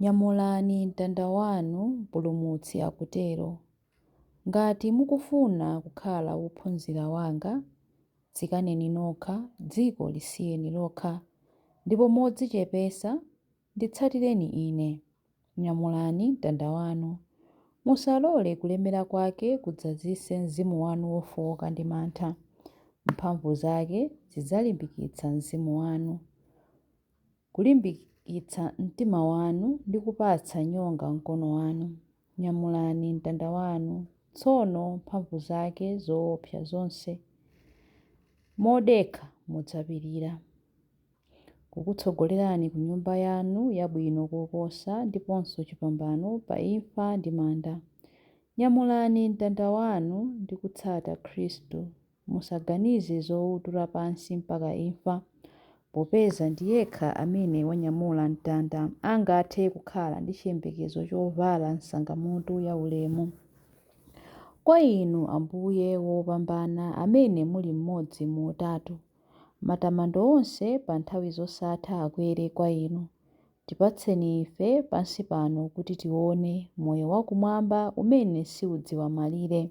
Nyamulani mtanda wanu, Mpulumutsi akutero. Ngati mukufuna kukhala wophunzira wanga, dzikaneni nokha, dziko lisiyeni lokha, ndipo modzichepesa nditsatireni ine. Nyamulani mtanda wanu. Musalole kulemera kwake kudzazise mzimu wanu wofooka ndi mantha. Mphamvu zake zidzalimbikitsa mzimu wanu. kulimbikitsa mtima wanu ndi kupatsa nyonga mkono wanu. Nyamulani mtanda wanu tsono mphamvu zake zoopsa zonse. Modekha mudzapirira. Kukutsogolerani ku nyumba yanu yabwino koposa ndiponso chipambano pa imfa ndi manda. Nyamulani mtanda wanu ndi kutsata Khristu musaganize zoutula pansi mpaka imfa, popeza ndi yekha amene wanyamula mtanda angathe kukhala ndi chiyembekezo chovala nsangamutu yaulemu. Kwa Inu, Ambuye wopambana, amene muli mmodzi mu Utatu, matamando onse pa nthawi zosatha akwere kwa Inu. Tipatseni ife, pansi pano, kuti tione, moyo wakumwamba umene siudziwa malire.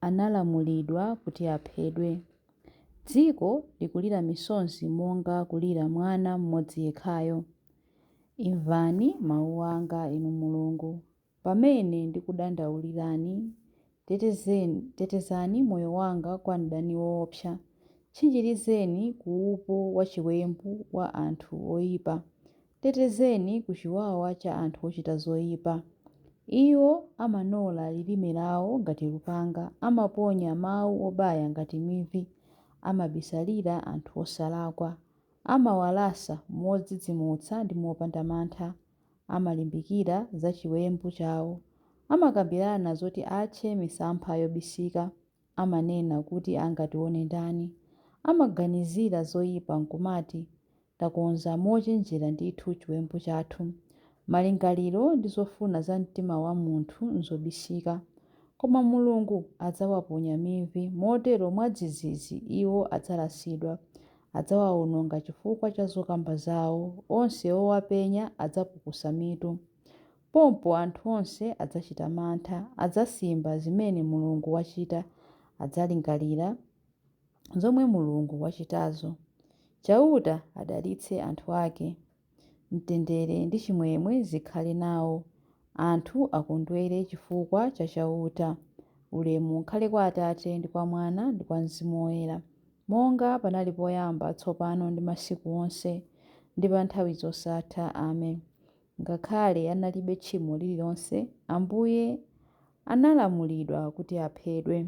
analamulidwa kuti aphedwe. Dziko likulira misozi monga kulira mwana mmodzi yekhayo. Imvani mawu anga, Inu Mulungu, pamene ndikudandaulirani. Tetezani moyo wanga kwa mdani woopsa. Tchinjirizeni ku upo wachiwembu wa anthu oipa, Tetezeni ku chiwawa cha anthu ochita zoipa. Iwo amanola lilime lawo ngati lupanga, amaponya mawu obaya ngati mivi. Amabisalira anthu osalakwa. Amawalasa modzidzimutsa ndi mopanda mantha. Amalimbikira za chiwembu chawo. Amakambirana zoti atche misampha yobisika. amanena kuti angatione ndani? Amaganizira zoipa n'kumati, Takonza mochenjera ndithu chiwembu chathu. Malingaliro ndi zofuna za mtima wa munthu n'zobisika. Koma Mulungu adzawaponya mivi, motero mwadzidzidzi iwo adzalasidwa. Adzawawononga chifukwa cha zokamba zawo. Onse owapenya adzapukusa mitu. Pompo anthu onse adzachita mantha, adzasimba zimene Mulungu wachita, adzalingalira zomwe Mulungu wachitazo. Chauta adalitse anthu ake. Mtendere ndi chimwemwe zikhale nawo. Anthu akondwere chifukwa cha Chauta. Ulemu ukhale kwa Atate, ndi kwa Mwana, ndi kwa Mzimu Woyera, monga panali poyamba, tsopano ndi masiku onse, ndi pa nthawi zosatha. Amen. Ngakhale analibe tchimo lililonse, Ambuye analamulidwa kuti aphedwe.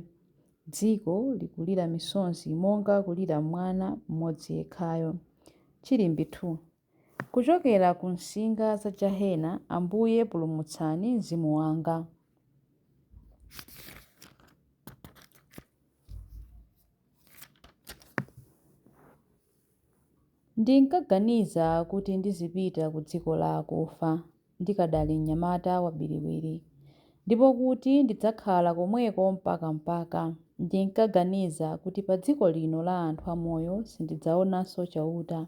Dziko likulira misozi monga kulira mwana mmodzi yekhayo. Chilimbi 2. Kuchokera ku msinga za jahena, Ambuye pulumutsani mzimu wanga. Ndinkaganiza kuti ndizipita kudziko la akufa ndikadali mnyamata wabiriwiri, ndipo kuti ndidzakhala komweko mpaka mpaka. Ndinkaganiza kuti padziko lino la anthu amoyo sindidzaonanso Chauta.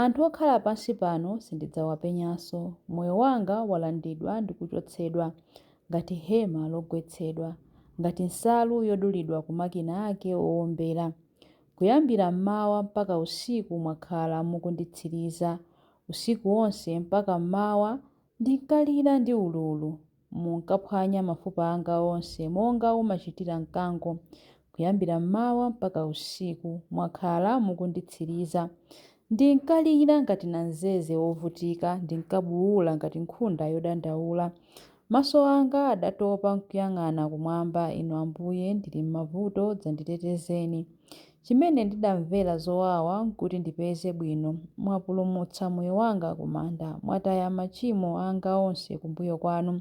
Anthu okhala pansi pano sindidzawapenyanso. Moyo wanga walandidwa ndi kuchotsedwa ngati hema logwetsedwa, ngati nsalu yodulidwa ku makina ake oombera. Kuyambira m'mawa mpaka usiku mwakhala mukunditsiriza. Usiku wonse mpaka m'mawa ndinkalira ndi ululu. Munkaphwanya mafupa anga onse monga umachitira mkango. Kuyambira m'mawa mpaka usiku mwakhala mukunditsiriza. Ndinkalira ngati namzeze wovutika, ndinkabuula ngati nkhunda yodandaula. Maso anga adatopa nkuyang'ana kumwamba, Inu Ambuye, ndili m'mavuto, dzanditetezeni. Chimene ndidamvera zowawa, nkuti ndipeze bwino. Mwapulumutsa moyo wanga kumanda, mwataya machimo anga onse kumbuyo kwanu.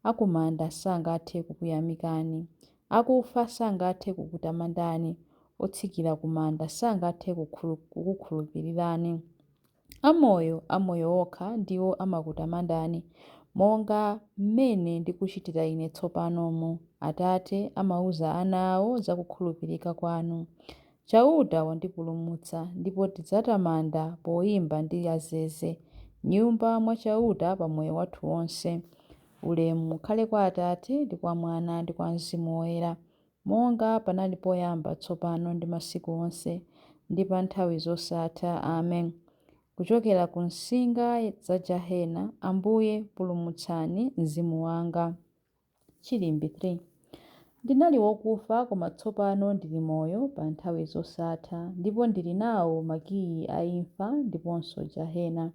Akumanda sangathe kukuyamikani. Akufa sangathe kukutamandani. Otsikira kumanda sangathe kukukhulupirirani. Amoyo, amoyo okha ndiwo amakutamandani, monga mmene ndikuchitira ine tsopanomu. Atate amauza ana awo za kukhulupirika kwanu. Chauta wandipulumutsa, ndipo tidzatamanda poimba ndi azeze, m'nyumba mwa Chauta pa moyo wathu wonse. Ulemu ukhale kwa Atate, ndi kwa Mwana, ndi kwa Mzimu Woyera. Monga panali poyamba, tsopano, ndi masiku onse, ndi pa nthawi zosatha. Amen. Kuchokera ku msinga za jahena, Ambuye, pulumutsani mzimu wanga. Chilimbi 3. Ndinali wokufa, koma tsopano ndili moyo pa nthawi zosatha, ndipo ndili nawo makiyi a imfa ndiponso jahena.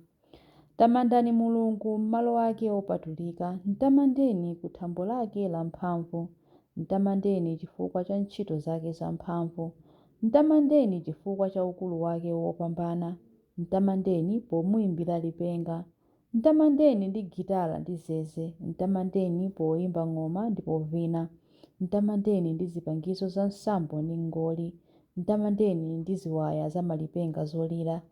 Tamandani Mulungu m'malo ake opatulika, m'tamandeni ku thambo lake lamphamvu. M'tamandeni chifukwa cha ntchito zake zamphamvu, m'tamandeni chifukwa cha ukulu wake wopambana. M'tamandeni pomuimbira lipenga. M'tamandeni ndi gitala ndi zeze, m'tamandeni poimba ng'oma ndi povina. M'tamandeni ndi zipangizo za nsambo ndi mngoli, m'tamandeni ndi ziwaya za malipenga zolira.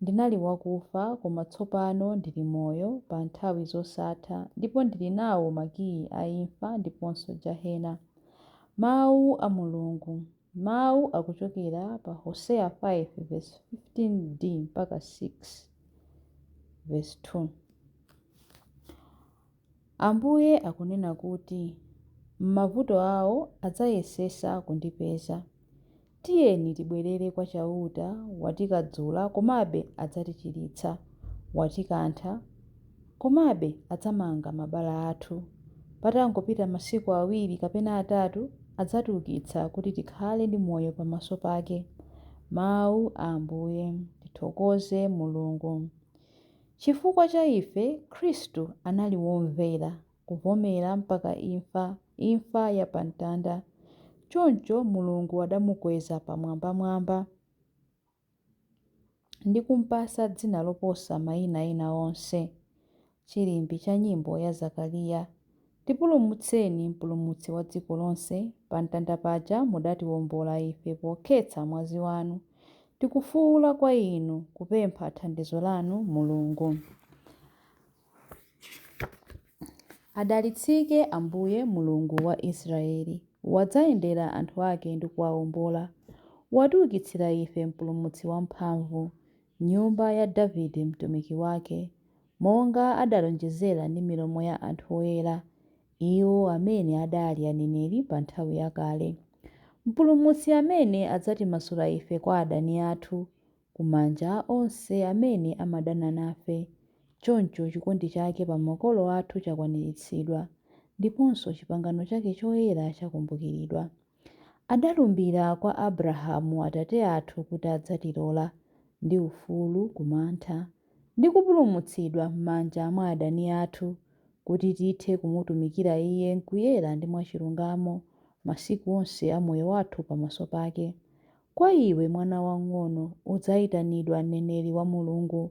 Ndinali wakufa, koma tsopano ndili moyo pa nthawi zosatha ndipo ndili nawo makiyi a imfa ndiponso Jahena. Mawu a Mulungu, Mawu akuchokera pa Hoseya 5 vesi 15 D mpaka 6 vesi 2. Ambuye akunena kuti, M'mavuto awo adzayesesa kundipeza. Tiyeni tibwerere kwa Chauta, watikadzula, komabe adzatichiritsa, watikantha, komabe adzamanga mabala athu. Patangopita masiku awiri kapena atatu, adzatiukitsa kuti tikhale ndi moyo pamaso pake. Mau a Ambuye. Tithokoze Mulungu. Chifukwa cha ife, Khristu anali womvera, kuvomera mpaka imfa, imfa ya pa mtanda. Choncho Mulungu adamukweza pamwambamwamba, ndi kumpatsa dzina loposa maina ena onse. Chilimbi cha nyimbo ya Zakariya. Tipulumutseni Mpulumutsi wa dziko lonse, Pamtanda paja mudatiwombola ife Pokhetsa mwazi wanu. Tikufuula kwa Inu, Kupempha thandizo lanu, Mulungu. Adalitsike Ambuye, Mulungu wa Israyeli, Wadzayendera anthu ake ndi kuwawombola. Watiukitsira ife Mpulumutsi wamphamvu, M'nyumba ya Davide mtumiki wake. monga adalonjezera ndi milomo ya anthu oyera, iwo amene adali aneneri pa nthawi yakale, Mpulumutsi amene adzatimasula ife kwa adani athu, ku manja a onse amene amadana nafe. Choncho chikondi chake pa makolo athu chakwaniritsidwa, ndiponso chipangano chake choyera chakumbukiridwa. Adalumbira kwa Abrahamu atate athu kuti adzatilola, ndi ufulu ku mantha, ndi kupulumutsidwa m'manja mwa adani athu, kuti tithe kumutumikira iye m'kuyera ndi mwachilungamo, masiku onse a moyo wathu pamaso pake. Kwa iwe, mwana wamng'ono, udzaitanidwa mneneri wa Mulungu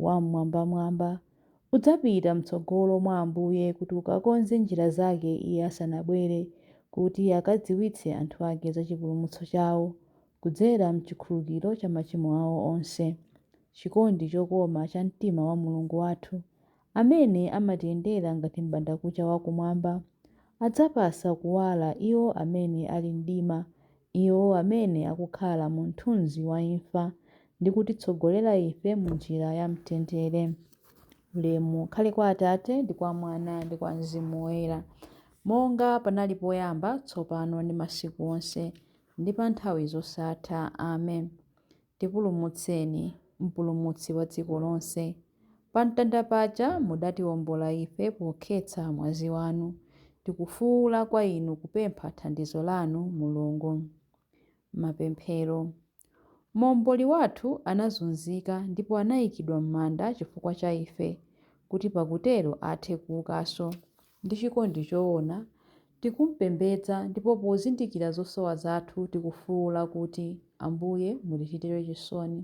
Wam'mwambamwamba, Udzapita m'tsogolo mwa Ambuye kuti ukakonze njira zake Iye asanabwere, kuti akadziwitse anthu ake za chipulumutso chawo, kudzera m'chikhululukiro cha machimo awo onse. Chikondi chokoma cha mtima wa Mulungu wathu, amene amatiyendera ngati m'bandakucha wa kumwamba, adzapasa kuwala iwo amene ali m'mdima iwo amene akukhala mu mthunzi wa imfa, ndi kutitsogolera ife mu njira ya mtendere. Ulemu ukhale kwa Atate, ndi kwa Mwana, ndi kwa Mzimu Woyera, monga panali poyamba, tsopano, ndi masiku onse, ndi pa nthawi zosatha. Amen. Tipulumutseni, Mpulumutsi wa dziko lonse. Pamtanda paja mudatiwombola ife pokhetsa mwazi wanu. Tikufuula kwa Inu kupempha thandizo lanu, Mulungu. Mapemphero. Momboli wathu anazunzika ndipo anaikidwa m'manda chifukwa cha ife, kuti pakutero athe kuukanso. Ndi chikondi choona, tikumpembedza ndipo pozindikira zosowa zathu tikufuula kuti, Ambuye, mutichitire chisoni.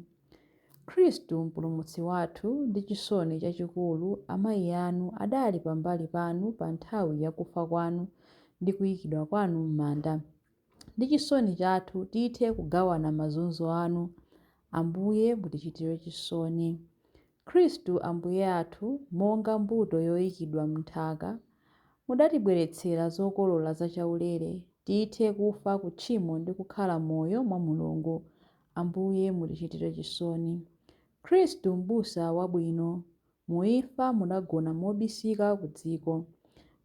Khristu, Mpulumutsi wathu, ndi chisoni chachikulu amayi anu adali pambali panu pa nthawi ya kufa kwanu ndi kuikidwa kwanu m'manda. Ndi chisoni chathu tithe kugawana mazunzo anu. Ambuye, mutichitire chisoni. Khristu Ambuye athu, monga mbuto yoikidwa m'nthaka, mudatibweretsera zokolola za chaulere, tithe kufa ku tchimo ndi kukhala moyo mwa Mulungu. Ambuye, mutichitire chisoni. Khristu Mbusa wabwino, mu imfa mudagona mobisika ku dziko.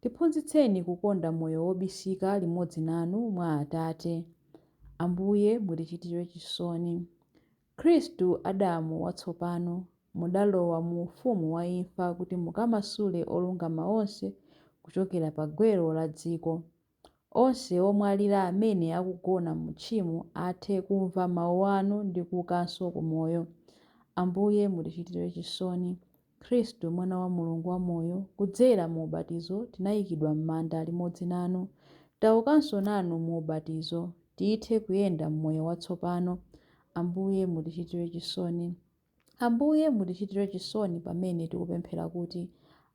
Tiphunzitseni kukonda moyo wobisika limodzi nanu mwa Atate. Ambuye, mutichitire chisoni. Khristu, Adamu watsopano, mudalowa mu ufumu wa imfa kuti mukamasule olungama onse kuchokera pa gwero la dziko. Onse omwalira amene akugona mu tchimo athe kumva mawu anu ndi kuukanso ku moyo. Ambuye, mutichitire chisoni. Khristu, Mwana wa Mulungu wamoyo, kudzera mu ubatizo tinayikidwa m'manda limodzi nanu, taukanso nanu mu ubatizo, tithe kuyenda m'moyo watsopano. Ambuye, mutichitire chisoni. Ambuye, mutichitire chisoni pamene tikupemphera kuti,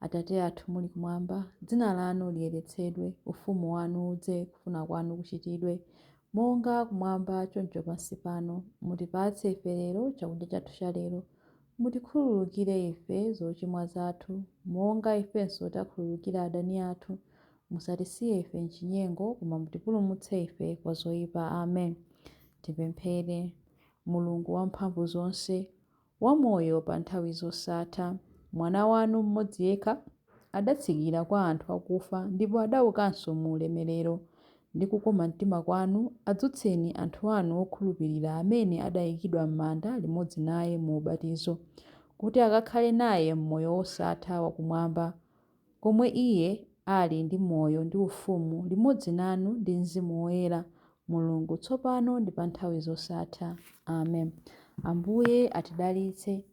Atate athu muli kumwamba, dzina lanu liyeretsedwe, ufumu wanu udze, kufuna kwanu kuchitidwe, monga kumwamba choncho pansi pano. Mutipatse ife lero chakudya chathu chalero. Mutikhululukire ife zochimwa zathu, monga ifenso takhululukira adani athu, Musatisiye ife m'chinyengo, koma mutipulumutse ife kwa zoipa. Amen. Tipemphere. Mulungu wamphamvu zonse, wamoyo pa nthawi zosatha, Mwana wanu mmodzi yekha adatsikira kwa anthu akufa ndipo adaukanso mu ulemerero. ndi kukoma mtima kwanu, adzutseni anthu anu okhulupirira amene adayikidwa m'manda limodzi naye mu ubatizo, kuti akakhale naye m'moyo wosatha wa kumwamba, komwe iye ali ndi moyo ndi ufumu limodzi nanu ndi Mzimu Woyera, Mulungu, tsopano ndi pa nthawi zosatha. Amen. Ambuye atidalitse.